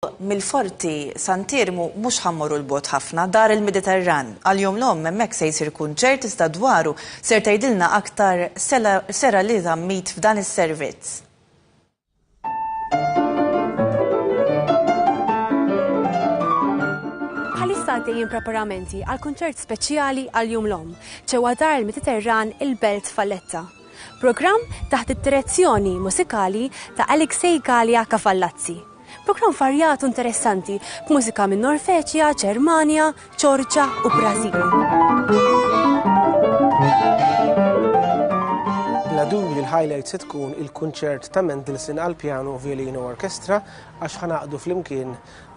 mill-Forti Sant'Iermu mhux ħa mmorru 'l bogħod ħafna, dar il-Mediterran. Għal Jum l-Omm hemmhekk se jsir kunċert iżda dwaru ser tgħidilna aktar Sela Sera li żammit f'dan is-servizz. Bħalissa għaddejjin preparamenti għal kunċert speċjali għal Jum l-Omm ġewwa dar il-Mediterran il-Belt Valletta. Programm taħt id-direzzjoni musikali ta' Alexei Galea Cafallazzi. Programm varjat u interessanti, b'mużika minn Norveġja, Ġermanja, Ġorġa u Brażil. Bla dubju li l-highlight se tkun il-kunċert ta' Mendelssohn għal pjanu u violino orkestra għax ħanaqdu flimkien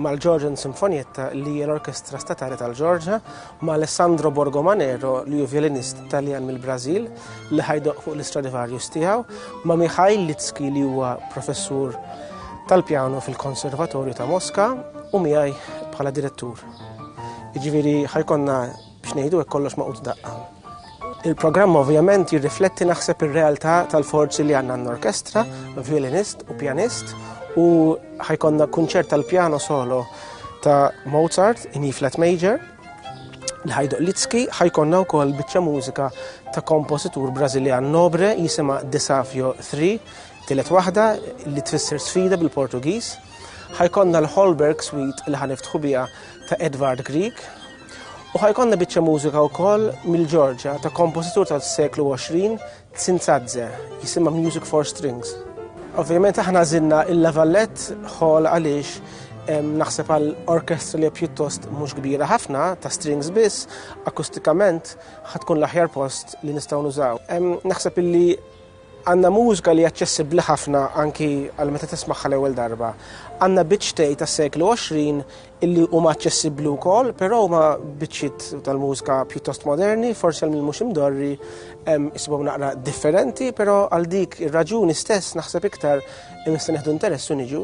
mal-Georgian Sinfonietta li hija l-orkestra statali tal-Ġorġa ma' Alessandro Borgomanero li hu violinist Taljan mill-Brażil li ħajdoq fuq l-Istradivarius tiegħu, ma' Mikhail Litski li huwa professur tal-pjano fil-Konservatorju ta' Moska u miegħi bħala direttur. Jiġifieri ħajkonna biex ngħidu hekk kollox maqut daqqa. Il-programm ovvjament jirrifletti naħseb ir-realtà tal-forzi li għandna n-orkestra, violinist u pjanist u ħajkonna kunċert tal-pjano solo ta' Mozart in E flat major li ħajduq Litski ħajkonna wkoll biċċa mużika ta' kompożitur Brażiljan Nobre jisima Desafio 3 tilet waħda li tfisser sfida bil-Portugiż. Ħajkonna l-Holberg Suite li ħaniftħu biha ta' Edvard Grieg U ħajkonna biċċa mużika wkoll mill-Ġorġa ta' kompożitur tas-seklu 20 Tsinzadze, jisimha Music for Strings. Ovvjament aħna żinna il-Lavallett ħol għaliex naħseb għal orkestra li pjuttost mhux kbira ħafna ta' strings biss, akustikament ħatkun l-aħjar post li nistgħu nużaw. Naħseb illi Għandna mużka li hija aċċessibbli ħafna anki għal meta tismagħha l-ewwel darba. Għandna biċċtej tas-seklu 20 illi huma aċċessibbli wkoll, però huma biċċiet tal-mużka pjuttost moderni, forsi għal min mhux imdorri isibhom naqra differenti, però għal dik ir-raġuni stess naħseb iktar nista' nieħdu interess u niġu.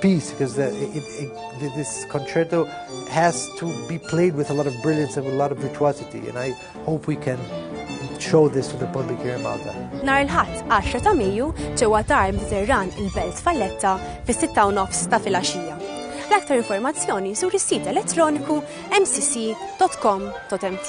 piece because the, it, it, this concerto has to be played with a lot of brilliance and with a lot of virtuosity, and I hope we can show this to the public here in Malta. Nar il-ħadd 10 ta' Mejju ġewwa tar Mediterran il-Belt Falletta fis-6 u nofs ta' filgħaxija. L-aktar informazzjoni sur is-sit elettroniku mcc.com.mt.